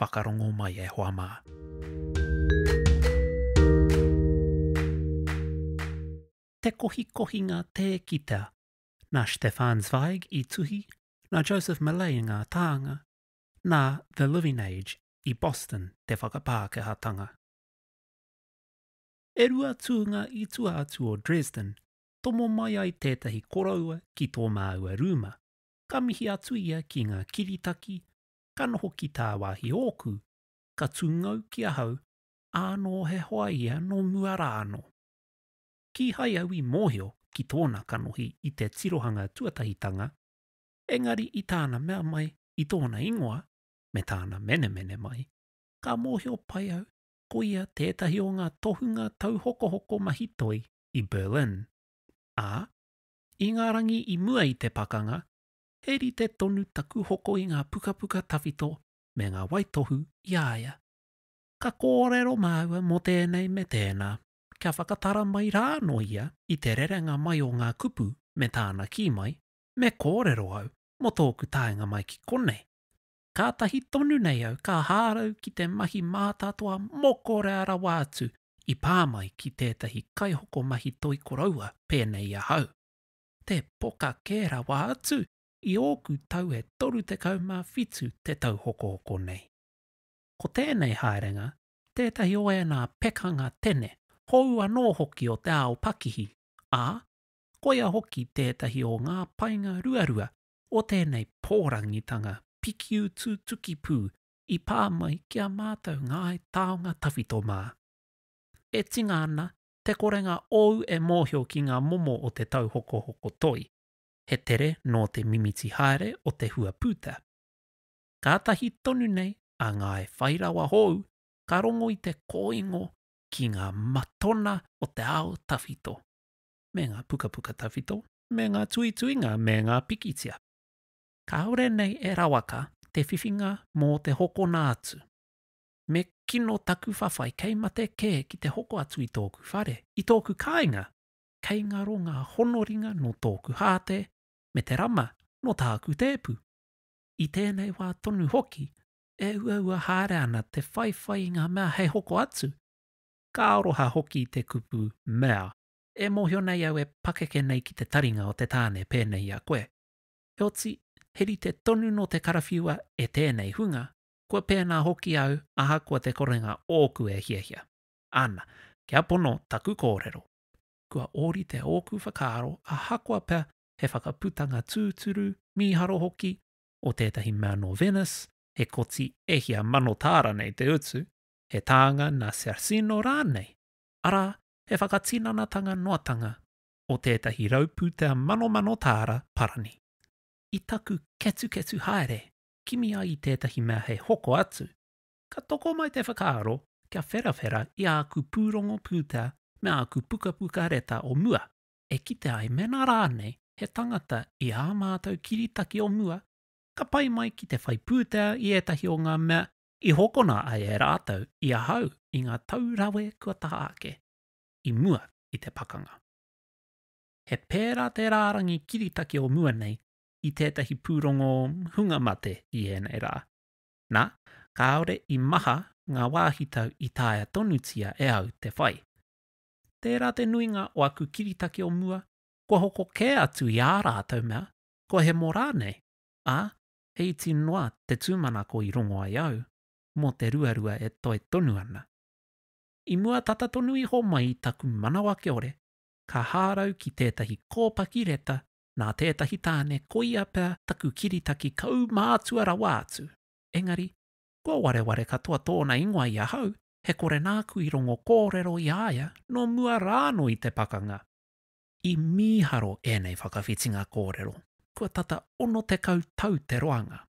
Whakarongo mai e hoa mā. Te kohikohinga tē kitea, nā Stefan Zweig i tuhi, nā Joseph Millay ngā tānga, nā The Living Age i Boston te whakapākehātanga. E rua tūnga i tua atu o Dresden, tomo mai ai tētahi koroua ki tō māua rūma, ka mihi atu ia ki ngā kiritaki ka noho ki tāwāhi ōku, ka tūngou ki ahau, ānō he hoa ia nō mua rā anō. Kīhai au i mōhio ki tōna kanohi i te tirohanga tuatahitanga, engari i tāna mea mai i tōna ingoa, me tāna menemene mai, ka mōhio pai au ko ia tētahi o ngā tohunga tauhokohoko mahi toi i Berlin. Ā, i ngā rangi i mua i te pakanga, he rite tonu taku hoko i ngā pukapuka tawhito me ngā waitohu i a ia. Ka kōrero māua mō tēnei me tēnā, kia whakatara mai rānō ia i te rerenga mai o ngā kupu me tāna kī mai, me kōrero au mō tōku taenga mai ki konei. Kātahi tonu nei au ka hārau ki te mahi mātātoa mokorea rawa atu i pā mai ki tētahi kaihokomahi toi koroua pēnei i ahau. te poka kē rawa atu i ōku tau e 37 te tau hokohoko nei. Ko tēnei haerenga tētahi o ēnā pekanga tene hou anō hoki o te ao pakihi, ā, koia hoki tētahi o ngā painga ruarua o tēnei pōrangitanga pikiutu tukipū i pā mai ki a mātou Ngāi Taonga Tawhito mā. E tinga ana te korenga ōu e mōhio ki ngā momo o te tauhokohoko toi, he tere nō te mimiti haere o te hua pūtea. Kātahi tonu nei a Ngāi Whai Rawa hōu ka rongo i te kōingo ki ngā matona o te ao tawhito, me ngā pukapuka tawhito, me ngā tuituinga me ngā pikitia. Kāore nei e rawaka te whiwhinga mō te hokona atu. me kino taku whawhai kei mate kē ki te hoko atu i tōku whare, i tōku kāinga, kei ngaro ngā honoringa nō tōku hāte me te rama nō tāku tēpu. I tēnei wā tonu hoki, e uaua haere ana te whaiwhai i ngā mea hei hoko atu, ka aroha hoki te kupu mea, e mōhio nei au e pakeke nei ki te taringa o te tāne pēnei i a koe. Heoti, he rite tonu nō te karawhiua e tēnei hunga, kua pēnā hoki au ahakoa te korenga ōku e hiahia. Ana, kia pono taku kōrero. Kua ōrite ōku whakaaro ahakoa pea he whakaputanga tūturu, mīharo hoki, o tētahi mea nō Venice, he koti e hia mano tāra nei te utu, he tānga nā Cercino rānei, arā, he whakatinanatanga noatanga o tētahi rau pūtea manomano tāra parani. I taku ketuketu haere, kimi ai i tētahi mea hei hoko atu, ka toko mai te whakaaro kia wherawhera i āku pūrongo pūtea me āku pukapuka reta o mua, e kite ai mēnā rānei he tangata i ā mātou kiritaki o mua ka pai mai ki te whai pūtea i ētahi o ngā mea i hokona ai e rātou i ahau i ngā tau rawe kua taha ake i mua i te pakanga. He pērā te rārangi kiritaki o mua nei i tētahi pūrongo hunga mate i ēnei rā. Nā, kāore i maha ngā wāhitau i taea tonutia e au te whai. Tērā te nuinga o aku kiritaki o mua, kua hoko kē atu i ā rātou mea, kua hemo rānei, ā, he iti noa te tūmanako i rongo ai au mō te ruarua e toe tonu ana. I mua tata tonu iho mai i taku manawa kiore, ka hārau ki tētahi kōpaki reta Nā tētahi tāne koia pea taku kiritaki kaumātua rawa atu. Engari, kua wareware katoa tōna ingoa i ahau, he kore nāku i rongo kōrero i a ia nō mua rānō i te pakanga. I mīharo ēnei whakawhitinga kōrero, kua tata 60 tau te roanga.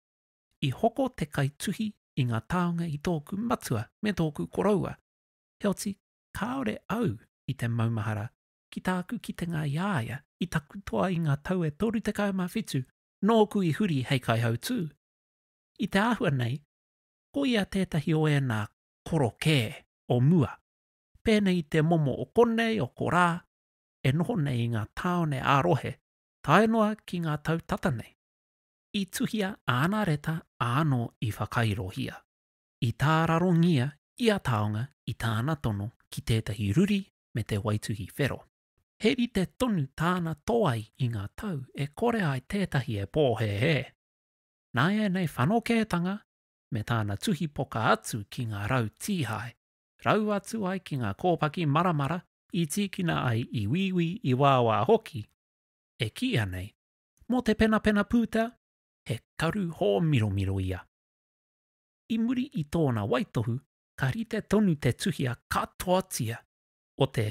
I hoko te kaituhi i ngā taonga i tōku matua me tōku koroua, heoti kāore au i te maumahara ki tāku kitenga i a ia, i taku toa i ngā tau e 37 nōku i huri hei kaihautū. I te āhua nei, ko ia tētahi o ēnā korokē o mua, pēnei i te momo o konei, o korā, e noho nei i ngā tāone ā-rohe, tae noa ki ngā tau tata nei. I tuhia āna reta āno i whakairohia, i tārarongia ia taonga i tāna tono ki tētahi ruri me te waituhi whero. He rite tonu tāna toai i ngā tau e kore ai tētahi e pōhēhē. Nāianei whanokētanga me tāna tuhi poka atu ki ngā rau tīhae, rau atu ai ki ngā kōpaki maramara i tīkina ai i wīwī i wāwā hoki, e kīia nei, mō te penapena pūtea, he karu hōmiromiro ia. I muri i tōna waitohu ka rite tonu te tuhia katoatia o te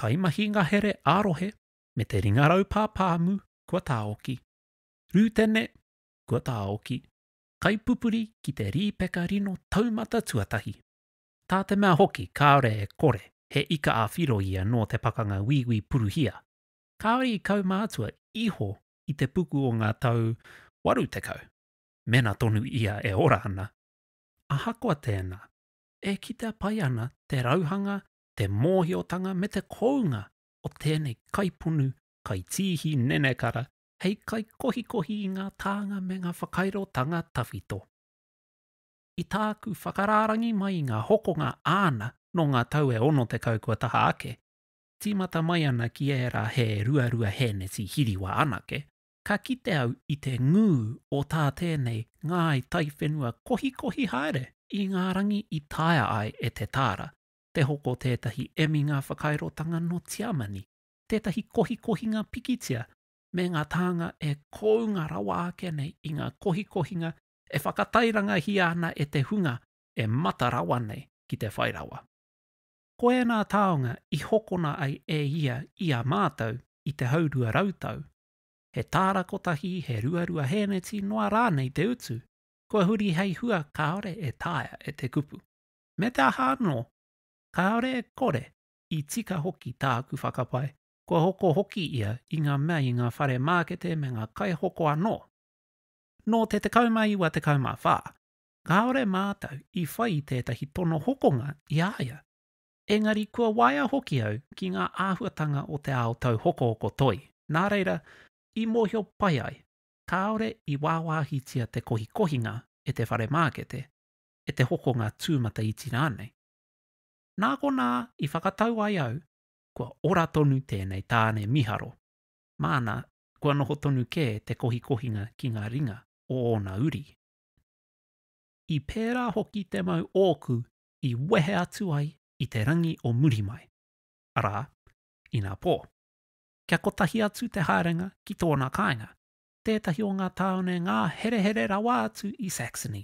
kaimahi ngahere ā-rohe me te ringarau pāpāmu kua tāoki, rūtene kua tāoki, kaipupuri ki te rīpeka rino taumata tuatahi. Tā te mea hoki kāore e kore he ika ā-whiro ia nō te pakanga Wīwī Puruhia, kāore i kaumātua iho i te puku o ngā tau 80, mēnā tonu ia e ora ana. ahakoa tēnā, e kitea pai ana te rauhanga, te mōhiotanga me te kounga o tēnei kaiponu, kaitīhi nenekara hei kaikohikohi i ngā tānga me ngā whakairotanga tawhito. I tāku whakarārangi mai i ngā hokonga āna nō ngā tau e 60 kua taha ake, tīmata mai ana ki ērā he ruarua hēneti hiriwa anake, Ka kite au i te ngū o tā tēnei ngāi taiwhenua kohikohi haere i ngā rangi i taea ai e Te Taara te hoko tētahi eminga whakairotanga nō Tiamani, tētahi kohikohinga pikitia me ngā tānga e kounga rawa ake nei i ngā kohikohinga e whakatairangahia ana e te hunga e mata rawa nei ki te whai rawa. Ko ēnā taonga i hokona ai e ia i a mātou i te hau rua rau tau, he tāra kotahi, he ruarua hēneti noa rānei te utu, kua huri hei hua kāore e taea e te kupu. Me te aha anō, kāore e kore, i tika hoki tāku whakapae, kua hoko hoki ia i ngā mea i ngā whare mākete me ngā kaihoko anō. Nō te 19 te 14 kāore mātou i whai i tētahi tono hokonga i a ia, engari kua waea hoki au ki ngā āhuatanga o te ao tauhokohoko toi, nā reira, i mōhio pai ai, kāore i wāwāhitia te kohikohinga e te whare mākete, e te hokonga tūmataiti rānei. Nā konā i whakatau ai au, kua ora tonu tēnei tāne miharo, māna kua noho tonu kē te kohikohinga ki ngā ringa o ōna uri. I pērā hoki te mau ōku i wehe atu ai i te rangi o muri mai, arā, ina pō. Kia kotahi atu te haerenga ki tōna kāinga, tētahi o ngā tāone ngā herehere rawa atu i Saxony.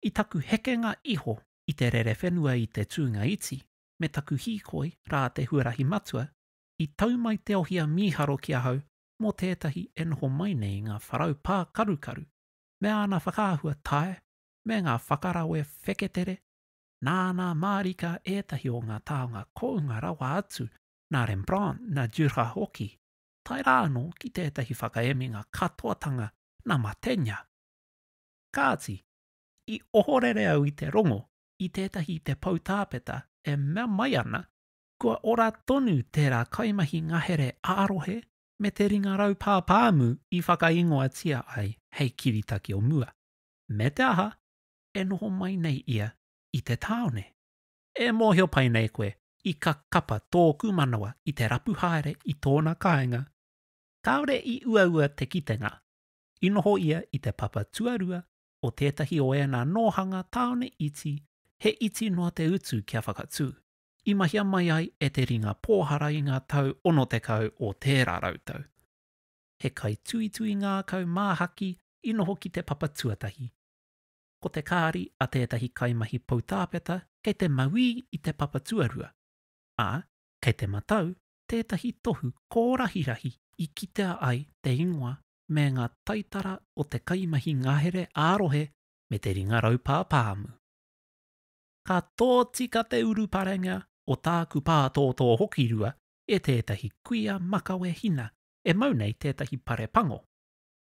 I taku hekenga iho i te rerewhenua i te tūnga iti me taku hīkoi rā te huarahi matua, i tau mai te ohia mīharo ki ahau mō tētahi e noho mai nei ngā wharau pākarukaru me āna whakaahua tae me ngā whakarawe wheketere, nāna mārika ētahi o ngā taonga kounga rawa atu nā Rembrandt, nā Dürer hoki, tae rā anō ki tētahi whakaeminga katoatanga nā Mantegna. Kāti, i ohorere au i te rongo i tētahi i te poutāpeta e mea mai ana kua ora tonu tērā kaimahi ngahere ā-rohe me te ringa raupā pāmu i whakaingoatia ai hei kiritaki o mua, me te aha, e noho mai nei ia i te tāone. E mōhio pai nei koe, i ka kapa tōku manawa i te rapu haere i tōna kāinga, kāore i uaua te kitenga, i noho ia i te papa tuarua o tētahi o ēnā nōhanga tāone iti he iti noa te utu kia whakatū. i mahia mai ai e te ringa pōhara i ngā tau 60 o tērā rautau. He kaituitui ngākau māhaki i noho ki te papa tuatahi. Ko te kāri a tētahi kaimahi poutāpeta kei te mauī i te papa tuarua, ā, kei te matau tētahi tohu kōrahirahi i kitea ai te ingoa me ngā taitara o te kaimahi ngahere ā-rohe me te ringa raupā pāmu. ka tōtika te uruparenga o tāku pātōtō hokirua e tētahi kuia makawe hina e mau nei tētahi pare pango.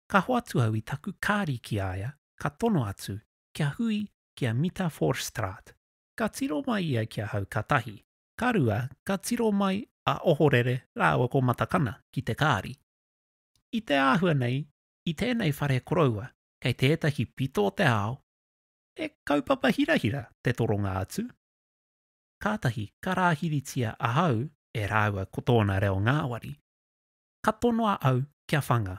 Ka hoatu au i taku kāri ki a ia ka tono atu kia hui ki a Mita Voorstraat. Ka tiro mai ia ki ahau ka tahi, ka rua ka tiro mai a Ohorere rāua ko Matakana ki te kāri. I te āhua nei i tēnei whare koroua kei tētahi pito o te ao, He kaupapa hirahira te toronga atu. Kātahi ka rāhiritia ahau e rāua ko tōna reo ngāwari. Ka tonoa au kia whanga,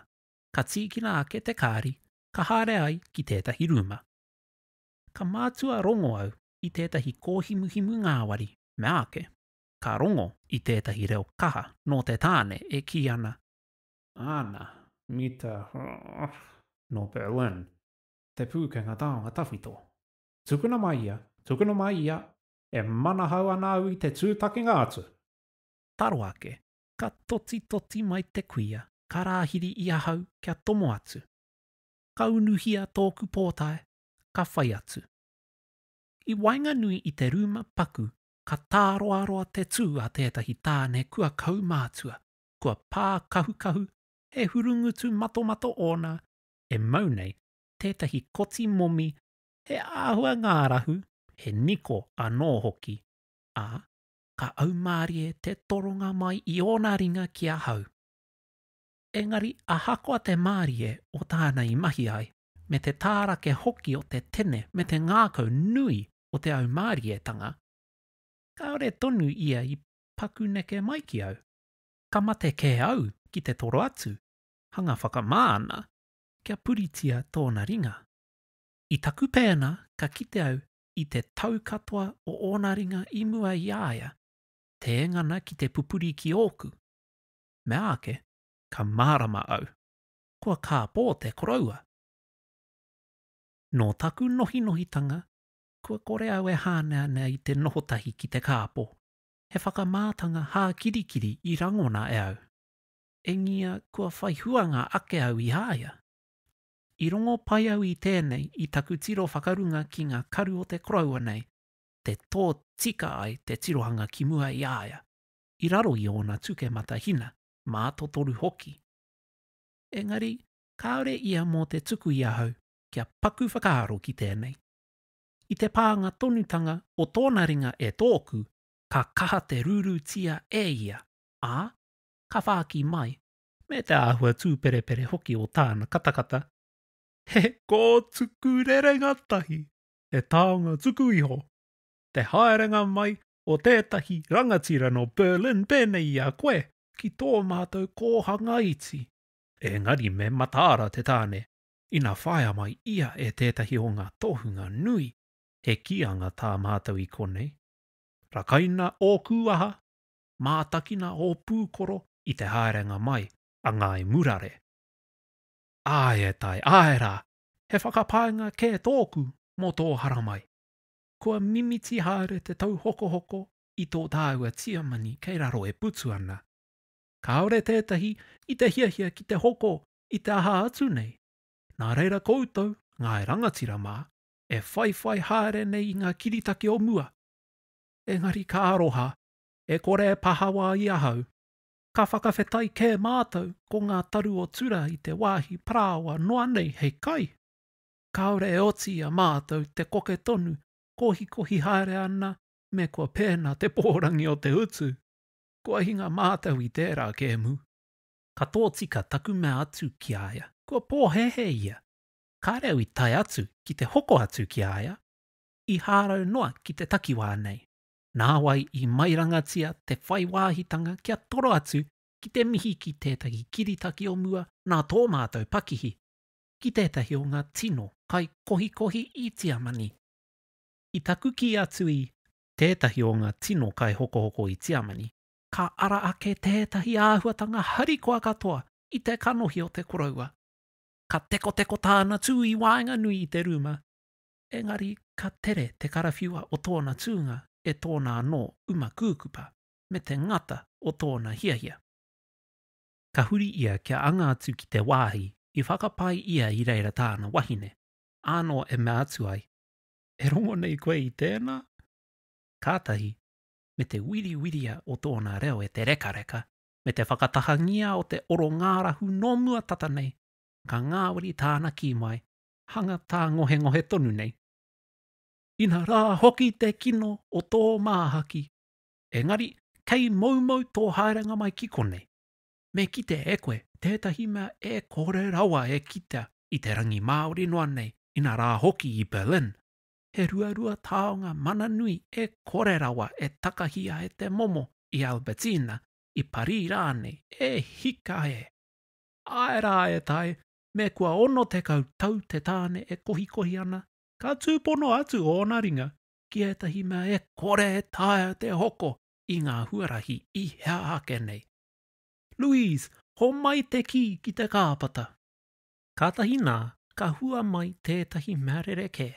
ka tīkina ake te kāri ka haere ai ki tētahi rūma. Ka mātua rongo au i tētahi kōhimuhimu ngāwari meāke ka rongo i tētahi reo kaha nō te tāne e kī ana, Āna, Mita, nō Berlin. Te Pūkenga Taonga Tawhito. Tukuna mai ia, tukuna mai ia, e manahau ana au i te tūtakinga atu! Taro ake, ka totitoti mai te kuia, ka rāhiri i ahau kia tomo atu. Ka unuhia tōku pōtae, ka whai atu. I waenganui i te rūma paku ka tāroaroa te tū a tētahi tāne kua kaumātua, kua pākahukahu, he hurungutu matomato ōna, e mau nei tētahi koti momi he āhua ngārahu, he niko anō hoki, ā, ka aumārie te toronga mai i ōna ringa ki ahau. Engari ahakoa te mārie o tāna i mahi ai, me te tārake hoki o te tene me te ngākau nui o te aumārietanga, kāore tonu ia i paku neke mai ki au. Ka mate kē au ki te toro atu, hanga whakamā ana kia puritia tōna ringa. I taku pēnā ka kite au i te tau katoa o ōna ringa i mua i a ia, tēngana ki te pupuri ki ōku. Meāke, ka mārama au, kua kāpō te koroua. Nō taku nohinohitanga kua kore au e hāneanea i te noho tahi ki te kāpō, he whakamātanga hākirikiri i rangona e au. Engia kua whai huanga ake au i a ia. I rongo pai au i tēnei i taku tiro whakarunga ki ngā karu o te koroua nei, te tōtika ai te tirohanga ki mua i a ia, i raro i ōna tuke matahina, mātotoru hoki. Engari, kāore ia mō te tuku i ahau kia paku whakaaro ki tēnei. I te pānga tonutanga o tōna ringa e tōku, ka kaha te rūrūtia e ia, ā, ka whāki mai. Me te āhua tūperepere hoki o tāna katakata, he kōtuku rerenga tahi, he taonga tuku iho. Te haerenga mai o tētahi rangatira nō Berlin pēnei i a koe ki tō mātou kōhanga iti. Engari me mataara te tāne, ina whāia mai ia e tētahi o ngā tohunga nui, he kīanga tā mātou i konei. Rakaina ōku aha, mātakina ō pūkoro i te haerenga mai a Ngāi Murare. Āe e tai, āe rā, he whakapaenga kē tōku mō tō haramai. Kua mimiti haere te tauhokohoko i tō tāua tiamani kei raro e putu ana. Kāore tētahi i te hiahia ki te hoko i te aha atu nei, nā reira koutou, ngāi rangatira mā, e whaiwhai haere nei i ngā kiritaki o mua. Engari ka aroha e kore e pahawa i ahau. Ka whakawhetai kē mātou ko ngā taru o Tura i te wāhi parāoa noa nei hei kai. Kāore e oti i a mātou te koke tonu kohikohi haere ana me kua pēnā te pōrangi o te utu. Kua hinga mātou i tērā kēmu. Ka tōtika taku mea atu ki a ia, kua pōhēhē ia. Kāre au i tae atu ki te hoko atu ki a ia, i hārau noa ki te takiwā nei. nāwai i mairangatia te whai wāhitanga kia toro atu ki te mihi ki tētahi kiritaki o mua nā tō mātou pakihi ki tētahi o ngā tino kai kohikohi i Tiamani. I taku kī atu i. Tētahi o ngā tino kai hokohoko i Tiamani, ka ara ake tētahi āhuatanga harikoa katoa i te kanohi o te koroua. Ka tekoteko tāna tū i waenganui i te rūma, engari ka tere te karawhiua o tōna tūnga e tōna anō uma kūkupa me te ngata o tōna hiahia. Ka huri ia kia anga atu ki te wāhi i whakapae ia i reira tāna wahine, ānō e mea atu ai, E rongo nei koe i tēnā? Kātahi, me te wiriwiria o tōna reo e te rekareka, me te whakatahangia o te oro ngārahu nō mua tata nei, ka ngāwari tāna kī mai, hanga tāngohengohe tonu nei. Ina rā hoki te kino o tō māhaki, engari kei moumou tō haerenga mai ki konei, me kite e koe tētahi mea e kore rawa e kitea i te rangi Māori noa nei, ina rā hoki i Berlin, he ruarua taonga mana nui e kore rawa e takahia e te momo i Albertina, i Parī rānei, e hika e! Āe rā e tai, Me kua 60 tau te tāne e kohikohi ana, ka tūpono atu ōna ringa ki ētahi mea e kore e taea te hoko i ngā huarahi i hea ake nei. Louise, homai te kī ki te kāpata. Kātahi nā, ka hua mai tētahi mea rerekē,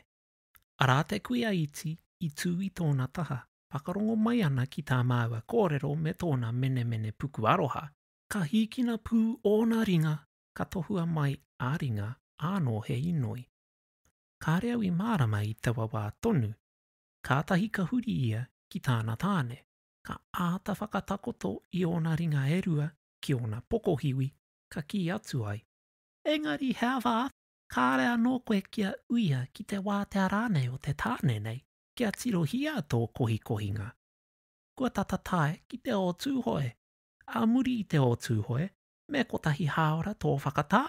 arā te kuia iti i tū i tōna taha, whakarongo mai ana ki tā māua kōrero me tōna menemene puku aroha, ka hīkina pū ōna ringa ka tohua mai a ringa ānō he inoi. Kāre au i mārama i taua wā tonu, kātahi ka huri ia ki tāna tāne, ka āta whakatakoto i ōna ringa e rua ki ōna pokohiwi ka kī atu ai, Engari he āwhā atu, kāre anō koe kia uia ki te wātea rānei o te tāne nei kia tirohia tō kohikohinga. Kua tata tae ki te o Tūhoe. Ā muri i te o Tūhoe, Me kotahi hāora tō whakatā?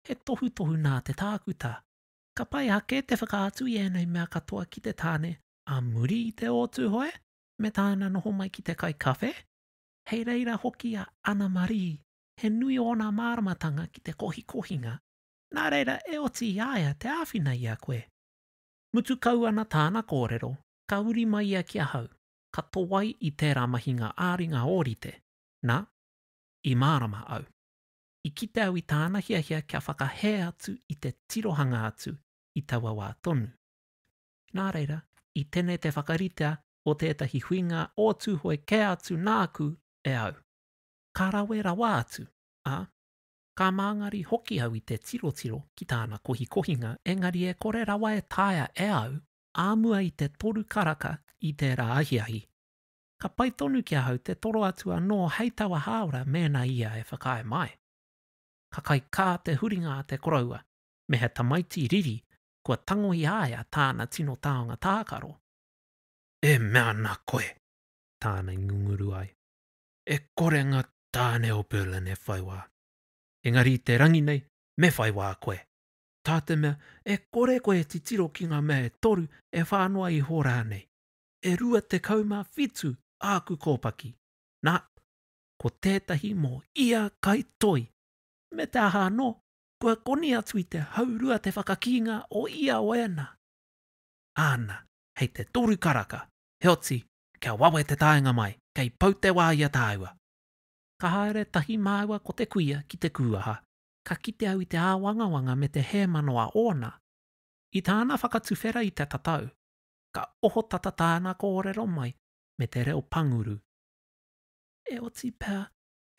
He tohutohu nā te tākuta. Ka pai ake te whakaatu i ēnei mea katoa ki te tāne ā muri i te ō Tūhoe me tāna noho mai ki te kai kawhe. Hei reira hoki a Ana Marie, he nui ōna māramatanga ki te kohikohinga, nā reira e oti i a ia te āwhina i a koe. Mutu kau ana tāna kōrero, ka uri mai ia ki ahau, ka towai i tērā mahinga ā-ringa ōrite, nā, I mārama au. I kite au i tāna hiahia kia whakahē atu i te tirohanga atu i taua wā tonu. Nā reira, i tene te whakaritea o tētahi huinga o Tūhoe kē atu nāku e au. Ka rawe rawa atu, ā, ka māngari hoki au i te tirotiro ki tāna kohikohinga engari e kore rawa e taea e au ā mua i te toru karaka i tērā ahiahi. ka pai tonu ki ahau te toro atu anō hei taua hāora mēnā ia e whakaae mai. Ka kaikā te huringa a te koroua me he tamaiti riri kua tango i a ia tāna tino taonga tākaro. E mea ana koe, tāna i ngunguru ai, e kore ngā tāne o Berlin e whai wā. Engari i te rangi nei, me whai wā koe. Tā te mea, e kore koe e titiro ki ngā mea e toru, e whā noa iho rānei. e rua tekau mā whitu āku kōpaki, nā, ko tētahi mō ia kai toi, me te aha anō, kua koni atu i te haurua te whakakīnga o ia waena. Āna, hei te toru karaka, heoti, kia wawe te taenga mai, kei pau te wā i a tāua. Ka haere tahi māua ko te kuia ki te kūaha, ka kite au i te āwangawanga me te hēmano a ōna. I tāna whakatuwhera i te tatau, ka ohotata tāna kōrero mai me te reo panguru. E oti pea,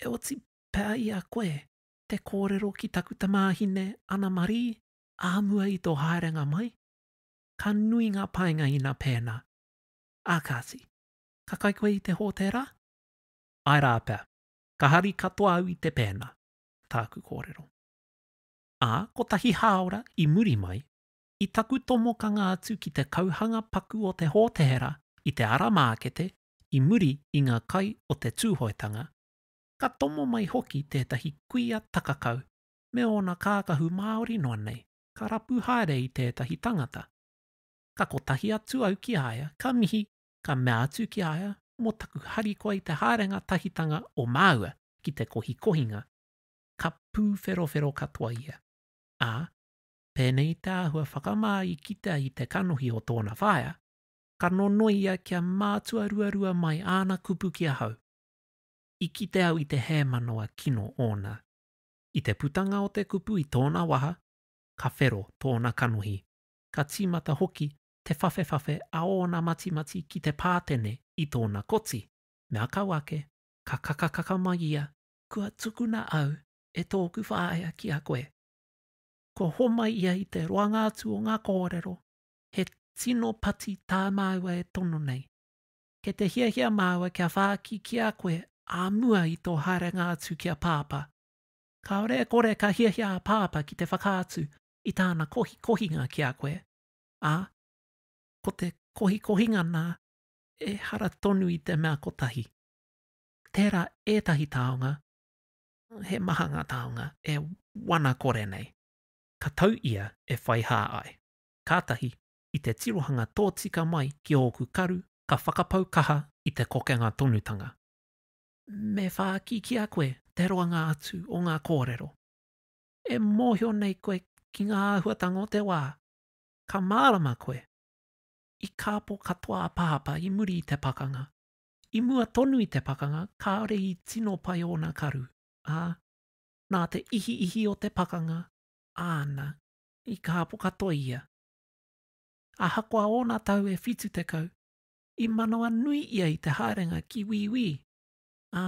e oti pea i a koe te kōrero ki taku tamāhine Ana Marie āmua i tō haerenga mai? Ka nui ngā painga ina pēnā. Ā kāti, ka kai koe i te hōtēra? Āe rā pea, ka hari katoa au i te pēnā, tāku kōrero. Ā, kotahi hāora i muri mai, I taku tomokanga atu ki te kauhanga paku o te Hōtēra i te ara mākete i muri i ngā kai o te Tūhoetanga, ka tomo mai hoki tētahi kuia takakau me ōna kākahu māori noa nei, ka rapu haere i tētahi tangata. Ka kotahi atu au ki a ia, ka mihi, ka mea atu ki a ia mō taku harikoa i te haerenga tahitanga o māua ki te kohikohinga, ka pūwherowhero katoa ia, ā, Pēnei te āhua whakamā i kitea i te kanohi o tōna whaea, ka nonoi ia kia mātua ruarua mai āna kupu ki ahau. I kite au i te hēmanawa kino ōna. I te putanga o te kupu i tōna waha, ka whero tōna kanohi, ka tīmata hoki te whawhewhawhe a ōna matimati ki te pātene i tōna koti. Me akau ake, ka kakakaka mai ia, Kua tukuna au e tōku whaea ki a koe. kua homai ia i te roanga atu o ngā kōrero, he tino pati tā māua e tono nei. Kei te hiahia māua kia whāki ki a koe ā mua i tō haerenga atu ki a Pāpā. Kāore e kore ka hiahia a Pāpā ki te whakaatu i tāna kohikohinga ki a koe, ā, ko te kohikohinga nā, ehara tonu i te mea kotahi. Tērā ētahi taonga, he maha ngā taonga e wana kore nei. Ka tau ia e whai hā ai. Kātahi, i te tirohanga tōtika mai ki ōku karu, ka whakapau kaha i te kokenga tonutanga. Me whāki ki a koe te roanga atu o ngā kōrero e mōhio nei koe ki ngā āhuatanga o te wā. Ka mārama koe, i kāpō katoa a Pāpā i muri i te pakanga, I mua tonu i te pakanga kāore i tino pai ōna karu, ā, nā te ihiihi o te pakanga āna i kāpo katoa ia. Ahakoa ōna tau e whitu tekau, i manawa nui ia i te haerenga ki Wīwī, ā,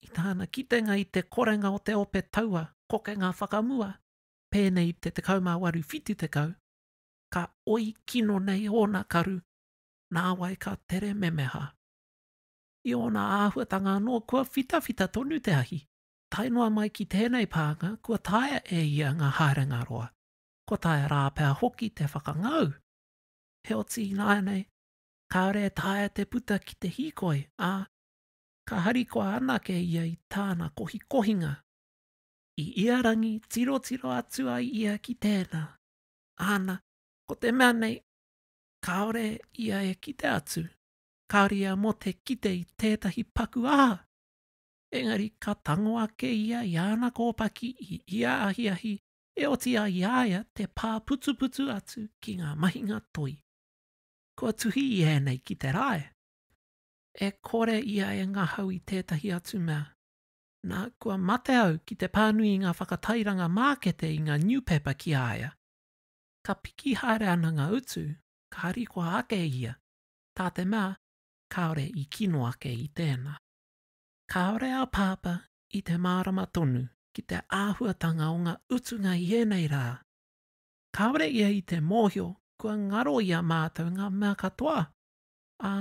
i tāna kitenga i te korenga o te ope taua kokenga whakamua, pēnei i te 1870, ka oi kino nei ōna karu nāwai ka tere memeha. I ōna āhuatanga anō kua whitawhita tonu te ahi. Tae noa mai ki tēnei pānga kua taea e ia ngā haerenga roa, kua taea rā pea hoki te whakangau. Heoti ināianei, kāore e taea te puta ki te hīkoi, ā, ka harikoa anake ia i tāna kohikohinga. I ia rangi tirotiro atu ai ia ki tēnā, āna, ko te mea nei, kāore ia e kite atu, kāore ia mō te kite i tētahi paku aha. Engari ka tango ake ia i āna kōpaki i ia ahiahi e oti ai i a ia te pā putuputu atu ki ngā mahinga toi. Kua tuhi i ēnei ki te rae. E kore ia e ngahau i tētahi atu mea. Nā, kua mate au ki te pānui i ngā whakatairanga mākete i ngā niupepa ki a ia. Ka piki haere ana ngā utu, ka harikoa ake ia, tā te mea, kāore i kino ake i tēnā. Kāore a Pāpā i te mārama tonu ki te āhuatanga o ngā utunga i ēnei rā. Kāore ia i te mōhio kua ngaro i a mātou ngā mea katoa, ā,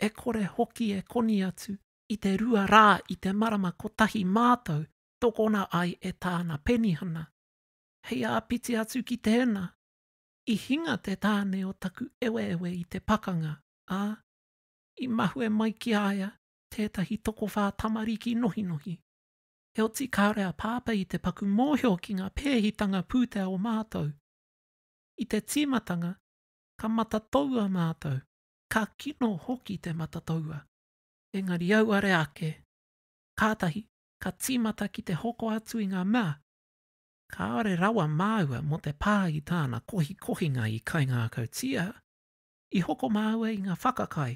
e kore hoki e koni atu i te rua rā i te marama kotahi mātou tokona ai e Tāna penihana. hei āpiti atu ki tēnā, i hinga te tāne o taku eweewe i te pakanga, ā, i mahue mai ki a ia tētahi tokowhā tamariki nohinohi. Heoti kāore a Pāpā i te paku mōhio ki ngā pēhitanga pūtea o mātou. I te tīmatanga, ka matatoua mātou, ka kino hoki te matatoua. Engari auare ake, kātahi ka tīmata ki te hoko atu i ngā mea Kāore rawa māua mō te pā i tāna kohikohinga i kaingākautia, i hoko māua i ngā whakakai.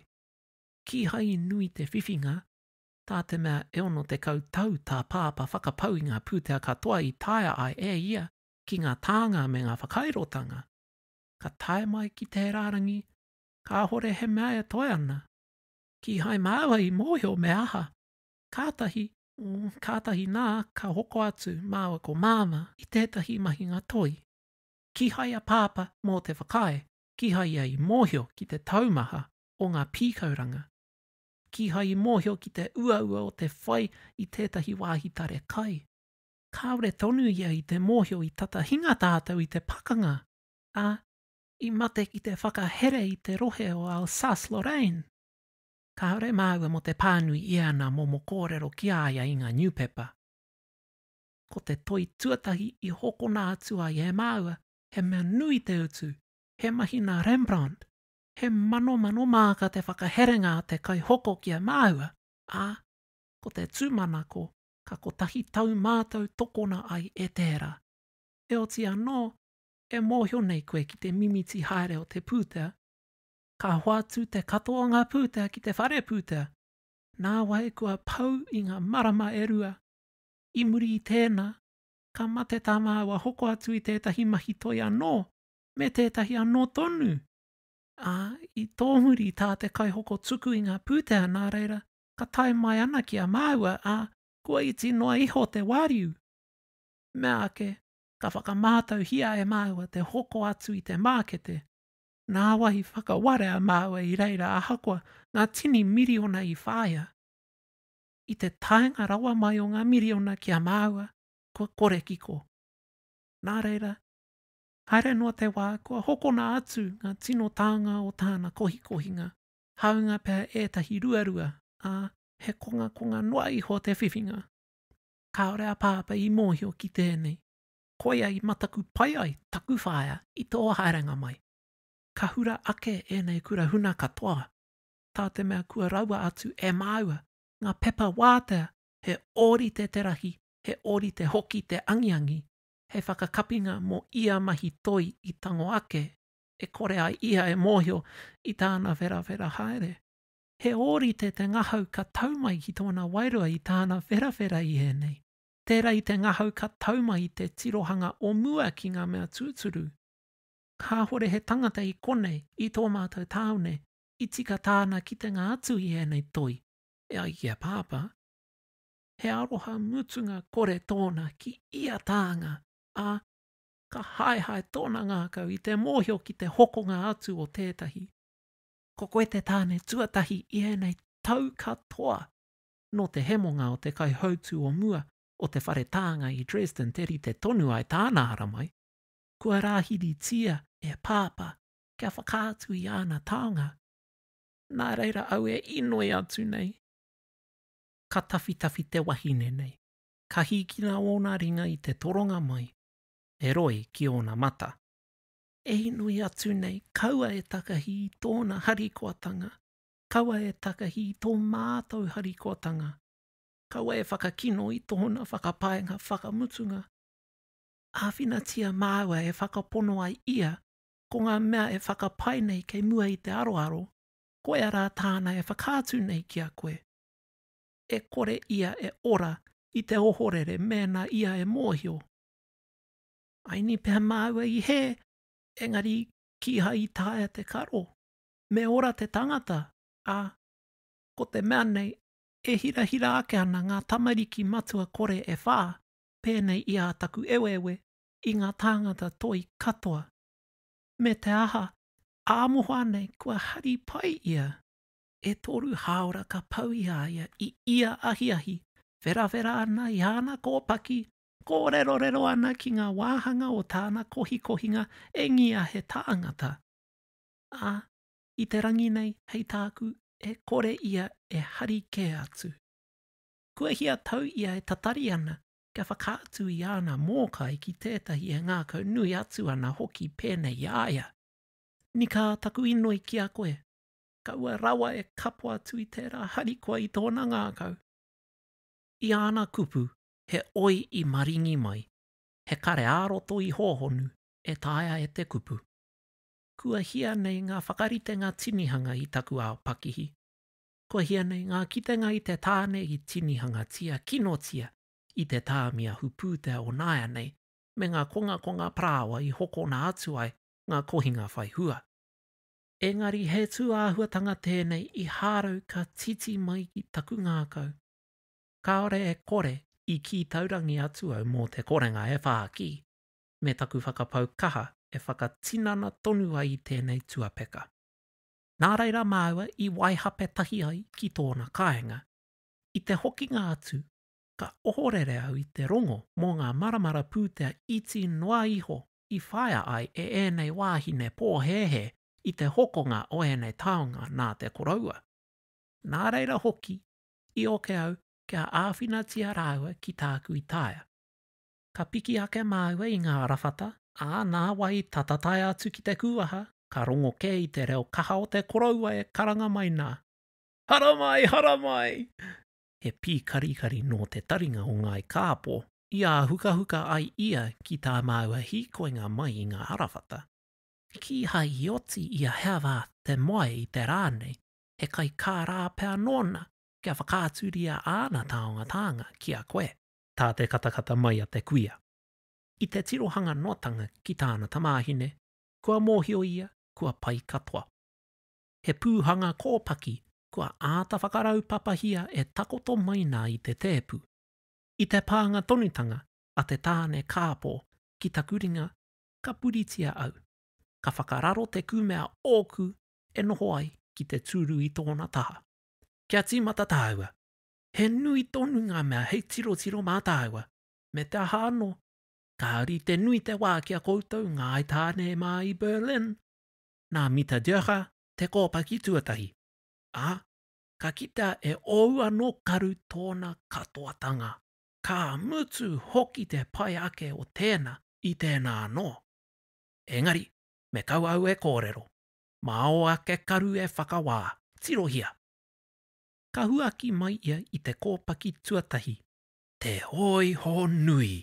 Kīhai i nui te whiwhinga, tā te mea e 60 tau tā Pāpā whakapau i ngā pūtea katoa i taea ai e ia ki ngā tānga me ngā whakairotanga. Ka tae mai ki te rārangi, kāhore he mea e toe ana. Kīhai māua i mōhio me aha, kātahi Kātahi nā, ka hoko atu māua ko Māmā i tētahi mahinga toi. Kīhai a Pāpā mō te whakaae, kīhai ia i mōhio ki te taumaha o ngā pīkauranga. Kīhai i mōhio ki te uaua o te whai i tētahi wāhi tare kai. Kāore tonu ia i te mōhio i tata hinga tātou i te pakanga, ā, i mate ki te whakahere i te rohe o Alsace-Lorraine. Kāore māua mō te pānui i ana momo kōrero ki a ia i ngā niupepa. Ko te toi tuatahi i hokona atu ai e māua, he mea nui te utu, he mahi nā Rembrandt, he manomano māka te whakaherenga a te kaihoko ki a māua, ā, ko te tūmanako ka kotahi tau mātou tokona ai e tērā. Heoti anō, e mōhio nei koe ki te mimiti haere o te pūtea, Ka hoatu te katoa o ngā pūtea ki te whare pūtea, nāwai kua pau i ngā marama e rua. I muri i tēnā, ka mate tā māua hoko atu i tētahi mahi toi anō me tētahi anō tonu, ā, i tōmuri tā te kaihoko tuku i ngā pūtea nā reira ka tae mai ana ki a māua, ā, kua iti noa iho te wāriu. Meāke, ka whakamātauhia e māua te hoko atu i te mākete, Nāwai i whakaware a māua i reira ahakoa ngā tini miriona i whāia. I te taenga rawa mai o ngā miriona ki a māua, kua kore kiko. Nā reira, haere noa te wā kua hokona atu ngā tino tānga o tāna kohikohinga, hāunga pea ētahi ruarua, ā, he kongakonga noa iho te whiwhinga. Kāore a Pāpā i mōhio ki tēnei. koia i mataku pai ai taku whaea i tō haerenga mai. Ka hura ake ēnei kura huna katoa, tā te mea kua raua atu e māua ngā pepa wātea he ōrite te rahi, he ōrite hoki te angiangi, hei whakakapinga mō ia mahi toi i tango ake, e kore ai ia e mōhio i tāna wherawhera haere. He ōrite te ngahau ka tau mai ki tōna wairua i tāna wherawhera i ēnei. Tērā i te ngahau ka tau mai te tirohanga o mua ki ngā mea tūturu. Kāhore he tangata i konei, i tō mātou tāone, i tika tāna kitenga atu i ēnei toi, e ai ki a Pāpā. He aroha mutunga kore tōna ki ia tānga, ā, ka haehae tōna ngākau i te mōhio ki te hokonga atu o tētahi. Ko koe te tāne tuatahi i ēnei tau katoa. nō te hemonga o te kaihautū o mua o te whare tānga i Dresden te rite tonu ai tāna haramai, kua rāhiritia e Pāpā kia whakaatu i āna taonga. Nā reira au e inoi atu nei, ka tawhitawhi te wahine nei, ka hīkina ōna ringa i te toronga mai, e roi ki ōna mata. E inoi atu nei, kaua e takahi i tōna harikoatanga, Kaua e takahi i tō mātou harikotanga. Kaua e whakakino i tōna whakapaenga whakamutunga. Āwhinatia māua e whakapono ai ia ko ngā mea e whakapae nei kei mua i te aroaro, koia rā tāna e whakaatu nei ki a koe. E kore ia e ora i te ohorere mēnā ia e mōhio. Aini pea māua i hē, engari kīhai i taea te karo. me ora te tangata, ā, ko te mea nei, e hirahira ake ana ngā tamariki matua kore e whā, pēnei i ā taku eweewe, i ngā tāngata toi katoa. Me te aha, ā mohoa nei kua hari pai ia. E toru hāora ka pau i a ia i ia ahiahi, wherawhera ana i āna kōpaki, kōrerorero ana ki ngā wāhanga o tāna kohikohinga e ngia he tāngata. ā, i te rangi nei hei tāku e kore ia e hari kē atu. Kua hia tau ia e tatari ana kia whakaatu i āna mōkai ki tētahi e ngākau nui atu ana hoki pēnei i a ia. Nikā taku inoi ki a koe, kaua rawa e kapo atu i tērā harikoa i tōna ngākau. I āna kupu he oi i maringi mai, he kare ā-roto i hōhonu e taea e te kupu. Kua hia nei ngā whakaritenga tinihanga i taku ao pakihi. Kua hia nei ngā kitenga i te tāne i tinihangatia, kinotia, i te tāmi ahu pūtea o nāianei, me ngā kongakonga parāoa i hokona atu ai ngā kohinga whai hua. Engari he tūāhuatanga tēnei i hārau ka titi mai ki taku ngākau. Kāore e kore i kī taurangi atu au mō te korenga e whākī. me taku whakapau kaha e whakatinana tonu ai i tēnei tuapeka. Nā reira māua i waihape tahi ai ki tōna kāinga. I te hokinga atu, ka ohorere au i te rongo mō ngā maramara pūtea iti noa iho i whaia ai e ēnei wāhine pōhēhē i te hokonga o ēnei taonga nā te koroua. Nā reira hoki, i oke au kia āwhinatia rāua ki tāku i taea. ka piki ake māua i ngā rawhata, ā, nā wai tata tae atu ki te kūaha, ka rongo kē i te reo kaha o te koroua e karanga mai nā, Haramai! Haramai! He pīkarikari nō te taringa o Ngāi Kāpō i āhukahuka ai ia ki tā māua hīkoinga mai i ngā arawhata. Kīhai i oti i a Herwarth te moe i te rā nei, he kaikārā pea nōna kia whakaaturia āna taonga tānga ki a koe. tā te katakata mai a te kuia. I te tirohanga noatanga ki tāna tamāhine, kua mōhio ia kua pai katoa. He pūhanga kōpaki kua āta whakaraupapahia e takoto mai nā i te tēpu. I te pānga tonutanga a te tāne kāpō ki taku ringa ka puritia au, ka whakararo te kūmea ōku e noho ai ki te tūru i tōna taha. Kia tīmata tāua! He nui tonu ngā mea hei tirotiro mā tāua, me te aha anō, ka rite nui te wā ki a koutou Ngāi Tāne mā i Berlin, nā Mita Döcher te kōpaki tuatahi, ā, ka kitea e ōu anō karu tōna katoatanga. Ka mutu hoki te pai ake o tēnā i tēnā anō. Engari, me kau au e kōrero, mā ō ake karu e whakawā, tirohia! ka huaki mai ia i te kōpaki tuatahi, te hōiho nui!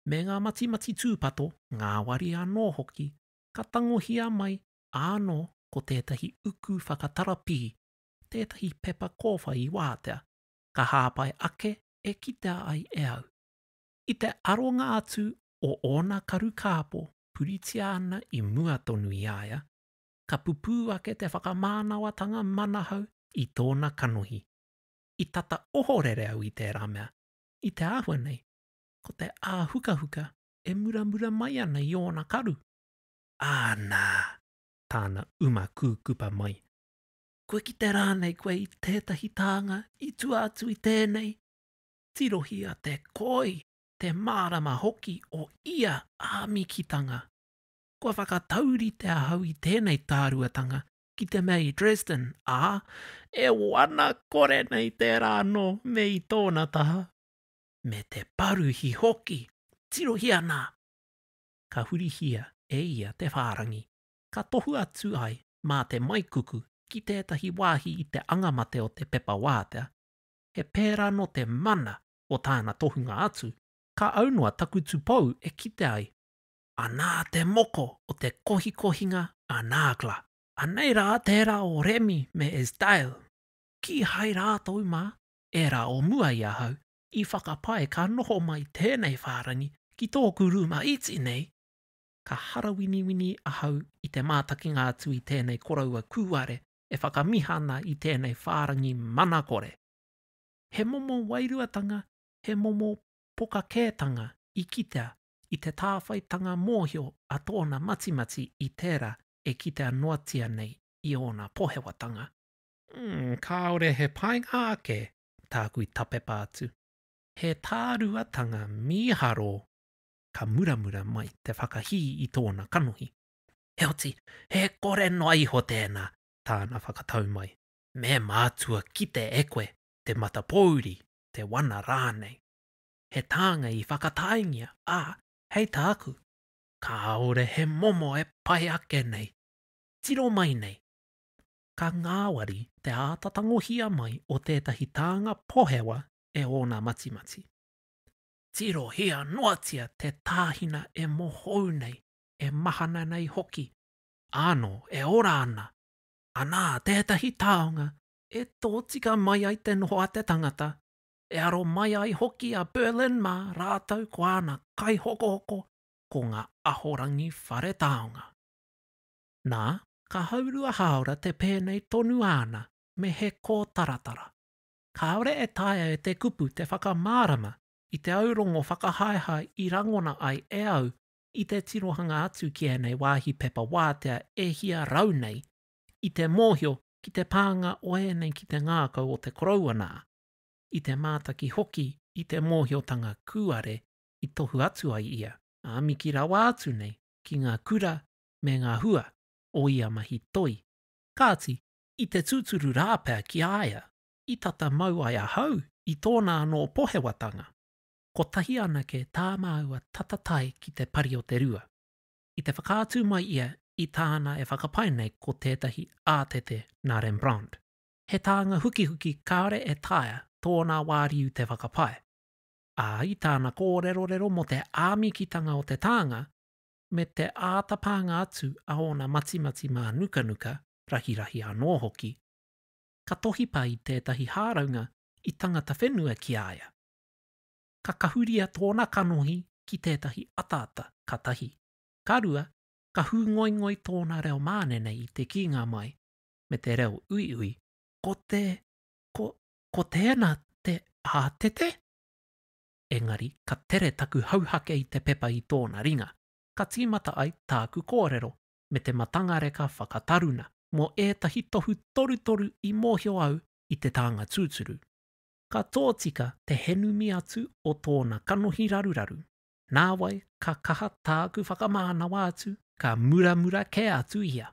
Me ngā matimati tūpato, ngāwari anō hoki, ka tangohia mai ānō ko tētahi uku whakatarapī, tētahi pepa kōwhai i wātea, ka hāpai ake e kitea ai e au. I te aronga atu o ōna karu kāpō puritia ana i mua tonu i a ia, ka pupū ake te whakamānawatanga manahau i tōna kanohi. I tata ohorere au i tērā mea, i te āhua nei, ko te āhukahuka e muramura mai ana i ōna karu. Ā nā, tāna uma kūkupa mai, kua kite rānei koe i tētahi tānga i tua atu i tēnei? Tirohi a Te Koi te mārama hoki o ia āmikitanga. kua whakataurite ahau i tēnei tāruatanga ki te mea i Dresden, ā, e wana kore nei tērā anō me i tōna taha, me te paruhi hoki, tirohia nā! Ka hurihia e ia te whārangi, ka tohu atu ai mā te maikuku ki tētahi wāhi i te angamate o te pepa wātea, he pērā nō te mana o tāna tohunga atu, ka aunoa taku tupou e kite ai, anā te moko o te kohikohinga a Nagla. Anei rā tērā o Remi me Esdail, kīhai rātou mā, ērā o mua i ahau, i whakapae ka noho mai tēnei whārangi ki tōku rūma iti nei, ka harawiniwini ahau i te mātakinga atu i tēnei koroua kūare e whakamiha ana i tēnei whārangi manakore. He momo wairuatanga, he momo pokakētanga i kitea i te tāwhaitanga mōhio a tōna matimati i tērā e kitea noatia nei i ōna pohewatanga. Umm, kāore he painga ake tāku i tapepa atu. He tāruatanga mīharo ka muramura mai te whakahī i tōna kanohi. Heoti, he kore noa iho tēnā, tāna whakatau mai. Me mātua kite e koe te matapōuri, te wana rānei. he tānga i whakataingia, ā, hei tā aku, kāore he momo e pai ake nei, tiro mai nei. Ka ngāwari te āta tangohia mai o tētahi tānga pohewa e ōna matimati. Tirohia noatia te tāhina e mohou nei, e mahana nei hoki. Ānō e ora ana, anā tētahi taonga e tōtika mai ai te noho a te tangata, E aro mai ai hoki a Berlin mā rātou ko āna kaihokohoko ko ngā ahorangi whare taonga. Nā, ka haurua hāora te pēnei tonu āna me he kōtaratara. Kāore e taea e te kupu te whakamārama i te aurongo whakahaehae i rangona ai e au i te tirohanga atu ki ēnei wāhi pepa wātea e hia rau nei i te mōhio ki te pānga o ēnei ki te ngākau o te koroua nā, i te mātaki hoki i te mōhiotanga kūare i tohu atu ai ia, ā miki rawa atu nei ki ngā kura me ngā hua o ia mahi toi. Kāti, i te tūturu rā pea ki a ia i tata mau ai ahau i tōna anō pohewatanga, kotahi anake tā māua tata tae ki te pari o te rua. I te whakaatu mai ia i tāna e whakapae nei ko tētahi ātete nā Rembrandt. he tānga hukihuki kāore e taea tōna wāriu te whakapae, ā, i tāna kōrerorero mō te āmikitanga o te tānga me te āta pānga atu a ōna matimati mānukanuka, rahirahi anō hoki, ka tohi pai tētahi hāraunga i tangata whenua ki a ia. Ka kahuria tōna kanohi ki tētahi ataata, ka tahi. Ka rua, ka hūngoingoi tōna reo mānene i te kīnga mai, me te reo uiui, ko te, ko, ko tēnā te ātete? Engari, ka tere taku hauhake i te pepa i tōna ringa, ka tīmata ai tāku kōrero me te matangareka whakataruna mō ētahi tohu torutoru i mōhio au i te tānga tūturu. Ka tōtika te henumi atu o tōna kanohi raruraru, nāwai ka kaha tāku whakamānawa atu, ka muramura kē atu ia.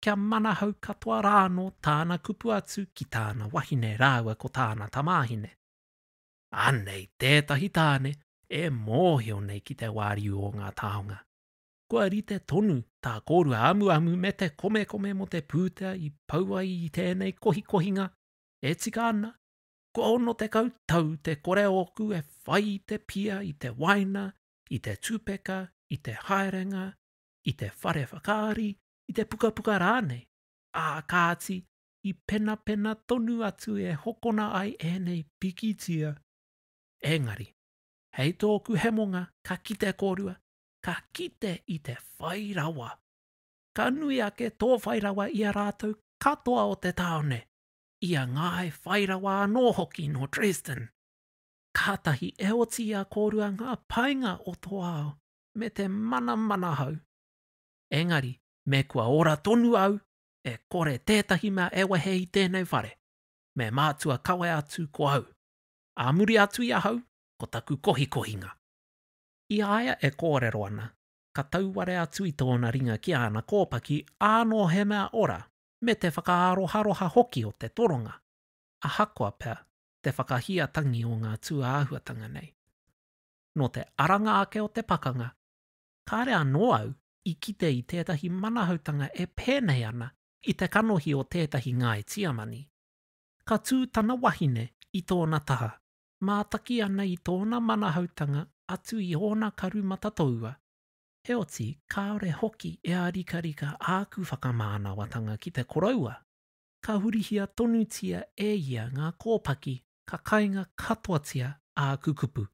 kia manahau katoa rānō tāna kupu atu ki tāna wahine rāua ko tāna tamāhine. Anei tētahi tāne e mōhio nei ki te wāriu o ngā taonga. Kua rite tonu tā kōrua amuamu me te komekome mō te pūtea i pau ai i tēnei kohikohinga e tika ana, kua 60 tau te kore ōku e whai i te pia, i te waina, i te tupeka, i te haerenga, i te whare whakaari, i te pukapuka rānei, ā, kāti, i penapena tonu atu e hokona ai ēnei pikitia. Engari, hei tōku hemonga, ka kite kōrua, ka kite i te whai rawa. Ka nui ake tō whai rawa i a rātou katoa o te tāone, i a Ngāi Whai Rawa anō hoki nō Dresden. Kātahi e oti i a kōrua ngā painga o tō ao, me te mana manahau. Engari, me kua ora tonu au, e kore tētahi mea e wehe i tēnei whare, me mātua kawe atu ko au. Ā muri atu i ahau, ko taku kohikohinga. I a ia e kōrero ana, ka tauware atu i tōna ringa ki āna kōpaki ānō he mea ora, me te whakaaroharoha hoki o te toronga, ahakoa pea te whakahia tangi o ngā tūāhuatanga nei. nō te aranga ake o te pakanga, kāre anō au i kite i tētahi manahautanga e pēnei ana i te kanohi o tētahi ngāi Tiamani. Ka tū tana wahine i tōna taha, mātaki ana i tōna manahautanga atu i ōna karu matatoua, heoti kāore hoki e ārikarika āku whakamānawatanga ki te koroua. ka hurihia tonutia e ia ngā kōpaki ka kainga katoatia āku kupu.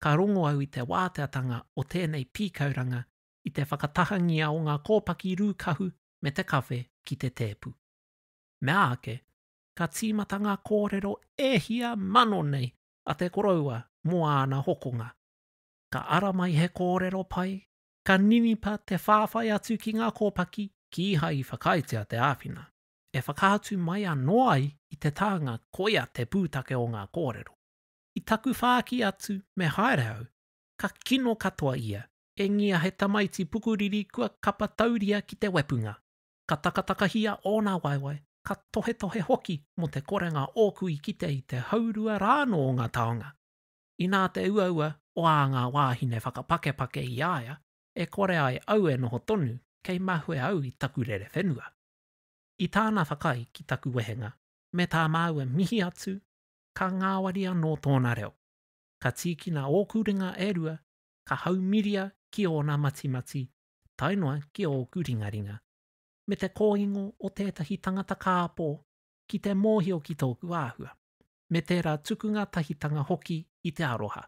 Ka rongo au i te wāteatanga o tēnei pīkauranga i te whakatahangia o ngā kōpaki rūkahu me te kawhe ki te tēpu. Meāke, ka tīmata ngā kōrero e hia mano nei a te koroua mō āna hokonga. Ka ara mai he kōrero pai, Ka ninipa te whāwhai atu ki ngā kōpaki, kīhai i whakaaetia te āwhina. E whakaatu mai anō ai i te tānga koia te pūtake o ngā kōrero. I taku whāki atu me haere au, ka kino katoa ia, engia he tamaiti pukuriri kua kapa tauria ki te wepunga. Ka takatakahia ōna waewae, ka tohetohe hoki mō te korenga ōku i kite i te haurua rānō o ngā taonga. Inā te uaua o ā ngā wāhine whakapakepake i a ia e kore ai au e noho tonu kei mahue au i taku rere whenua. I tāna whakaae ki taku wehenga me tā māua mihi atu, ka ngāwari anō tōna reo. Ka tīkina ōku ringa e rua, ka haumiria ki ōna matimati, tae noa ki ōku ringaringa. Me te kōingo o tētahi tangata kāpō ki te mōhio ki tōku āhua, me tērā tuku ngātahitanga hoki i te aroha.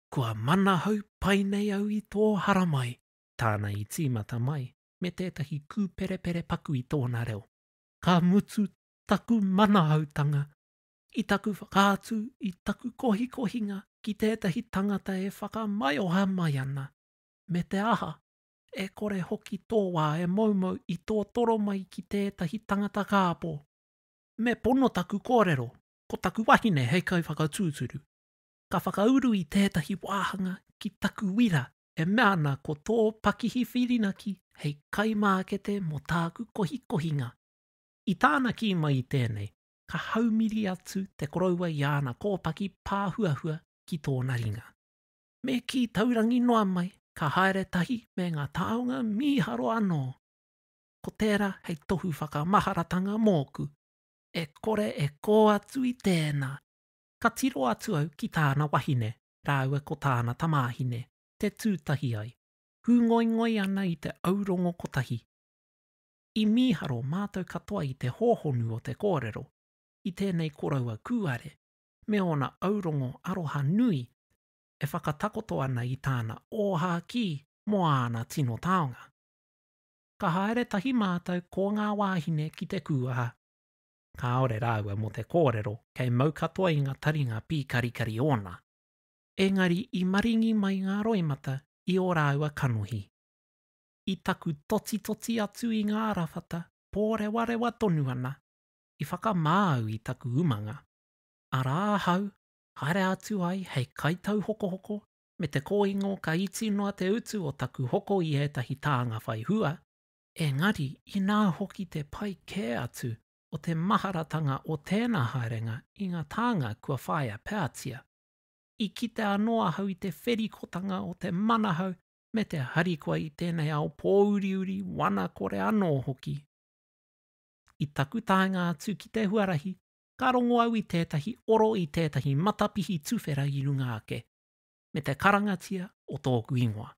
Kua manahau pai nei au i tō haramai. Tāna i tīmata mai me tētahi kūperepere paku i tōna reo. Ka mutu taku manahautanga i taku whakaatu i taku kohikohinga ki tētahi tangata e whakamaioha mai ana, me te aha, e kore hoki tō wā e moumou i tōtoro mai ki tētahi tangata kāpō. Me pono taku kōrero, ko taku wahine hei kaiwhakatūturu. Ka whakauru i tētahi wāhanga ki taku wira e mea ana ko tō pakihi whirinaki hei kaimākete mō tāku kohikohinga. I tāna kī mai i tēnei, ka haumiri atu te koroua i āna kōpaki pāhuahua ki tōna ringa. Me kī taurangi noa mai, ka haere tahi me ngā taonga mīharo anō. ko tērā hei tohu whakamaharatanga mōku. E kore e kō atu i tēnā, ka tiro atu au ki tāna wahine rāua ko tāna tamāhine te tū tahi ai, hūngoingoi ana i te aurongo kotahi. I mīharo mātou katoa i te hōhonu o te kōrero i tēnei koroua kūare me ōna aurongo aroha nui e whakatakoto ana i tāna ōhākī mō āna tino taonga. ka haere tahi mātou ko ngā wāhine ki te kūaha. Kāore rāua mō te kōrero kei mau katoa i ngā taringa pīkarikari ōna. Engari i maringi mai ngā roimata i ō rāua kanohi. I taku totitoti atu i ngā arawhata pōrewarewa tonu ana, i whakamā au i taku umanga, arā ahau, haere atu ai hei kaitauhokohoko me te kōingo ka iti noa te utu o taku hoko i ētahi tānga whai hua, engari inā hoki te pai kē atu o te maharatanga o tēnā haerenga i ngā tānga kua whāia peatia. I kite anō ahau i te wherikotanga o te manahau me te harikoa i tēnei ao pōuriuri, wana kore anō hoki. I taku taenga atu ki te huarahi, ka rongo au i tētahi oro i tētahi matapihi tuwhera i runga ake, me te karangatia o tōku ingoa.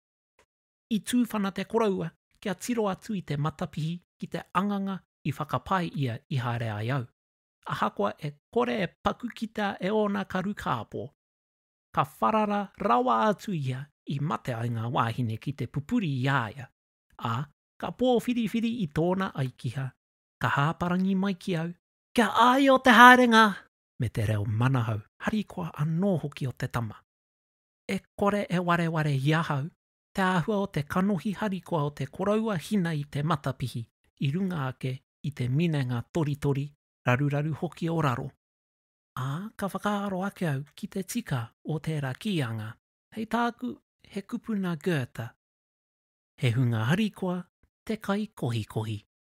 I tūwhana te koroua kia tiro atu i te matapihi ki te anganga i whakapae ia i haere ai au, ahakoa e kore e paku kita e ōna karu kāpō. Ka wharara rawa atu ia i mate ai ngā wāhine ki te pupuri i a ia, ā, ka pōwhiriwhiri i tōna aikiha, ka hāparangi mai ki au, Kia āio te haerenga me te reo manahau harikoa anō hoki o te tama. E kore e wareware i ahau te āhua o te kanohi harikoa o te koroua hina i te matapihi i runga ake i te minenga toritori, raruraru hoki o raro. Ā, ka whakaaro ake au ki te tika o tērā kīanga, hei tāku he kupu nā Goethe, He hunga harikoa te kai kohikohi.